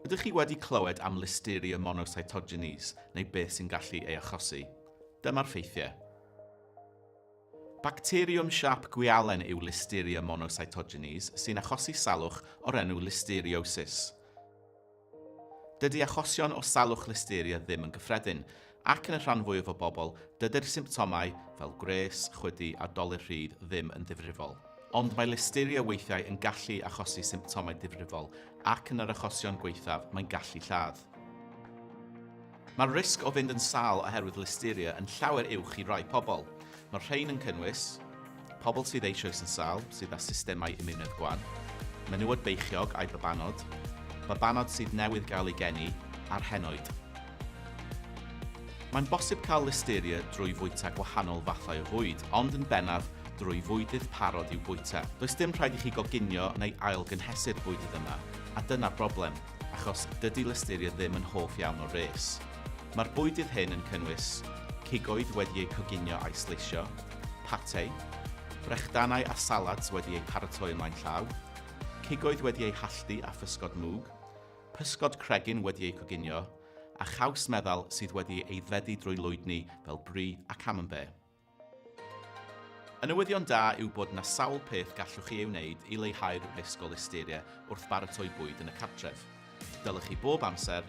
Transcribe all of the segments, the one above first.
Ydych chi wedi clywed am Listeria monocytogenes neu beth sy'n gallu ei achosi? Dyma'r ffeithiau. Bacteriwm siâp gwialen yw Listeria monocytogenes sy'n achosi salwch o'r enw listeriosis. Dydy achosion o salwch listeria ddim yn gyffredin, ac yn y rhan fwyaf o bobl, dydy'r symptomau, fel gwres, chwydu a dolur rhydd, ddim yn ddifrifol. Ond mae listeria weithiau yn gallu achosi symptomau difrifol, ac yn yr achosion gwaethaf, mae'n gallu lladd. Mae'r risg o fynd yn sâl oherwydd listeria yn llawer uwch i rai pobl. Mae'r rhain yn cynnwys, pobl sydd eisoes yn sâl, sydd â systemau imiwnedd gwan, menywod beichiog a'u babanod, babanod sydd newydd gael eu geni, a'r henoed. Mae'n bosib cael listeria drwy fwyta gwahanol fathau o fwyd, ond yn bennaf drwy fwydydd parod i'w bwyta. Does dim rhaid i chi goginio neu ail-gynhesu'r bwydydd yma, a dyna'r broblem. achos dydy listeria ddim yn hoff iawn o res. Mae'r bwydydd hyn yn cynnwys cigoedd wedi eu coginio a'u sleisio, pate, brechdanau a salads wedi eu paratoi ymlaen llaw, cigoedd wedi eu halltu a physgod mwg, pysgod cregyn wedi eu coginio, a chaws meddal sydd wedi ei aeddfedu drwy lwydni fel brie a camembert. Y newyddion da yw bod 'na sawl peth gallwch chi ei wneud i leihau'r risg o listeria wrth baratoi bwyd yn y cartref. Dylech chi bob amser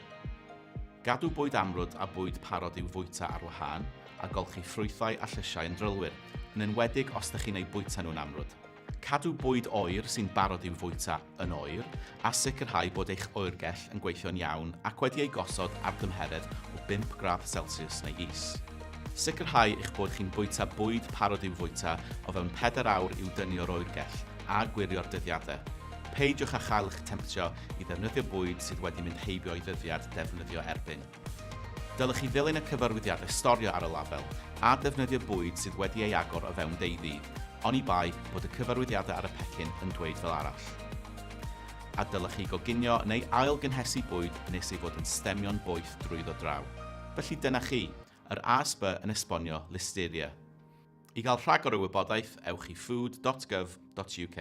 gadw bwyd amrwd a bwyd parod i'w fwyta ar wahân, a golchi ffrwythau a llysiau yn drylwyr, yn enwedig os 'da chi'n eu bwyta nhw'n amrwd. Cadw bwyd oer sy'n barod i'w fwyta yn oer a sicrhau bod eich oergell yn gweithio'n iawn ac wedi ei gosod ar dymheredd o 5 gradd celsiws neu is. Sicrhau eich bod chi'n bwyta bwyd parod i'w fwyta o fewn pedair awr i'w dynnu o'r oergell a gwirio'r dyddiadau. Peidiwch â chael eich temtio i ddefnyddio bwyd sydd wedi mynd heibio ei ddyddiad defnyddio erbyn. Dylech chi ddilyn y cyfarwyddiadau storio ar y label a defnyddio bwyd sydd wedi ei agor o fewn deuddydd, oni bai bod y cyfarwyddiadau ar y pecyn yn dweud fel arall. A dylech chi goginio neu ail-gynhesu bwyd nes ei fod yn stemio'n boeth drwyddo draw. Felly dyna chi, yr ASB yn esbonio Listeria. I gael rhagor o wybodaeth, ewch i food dot gov dot uk.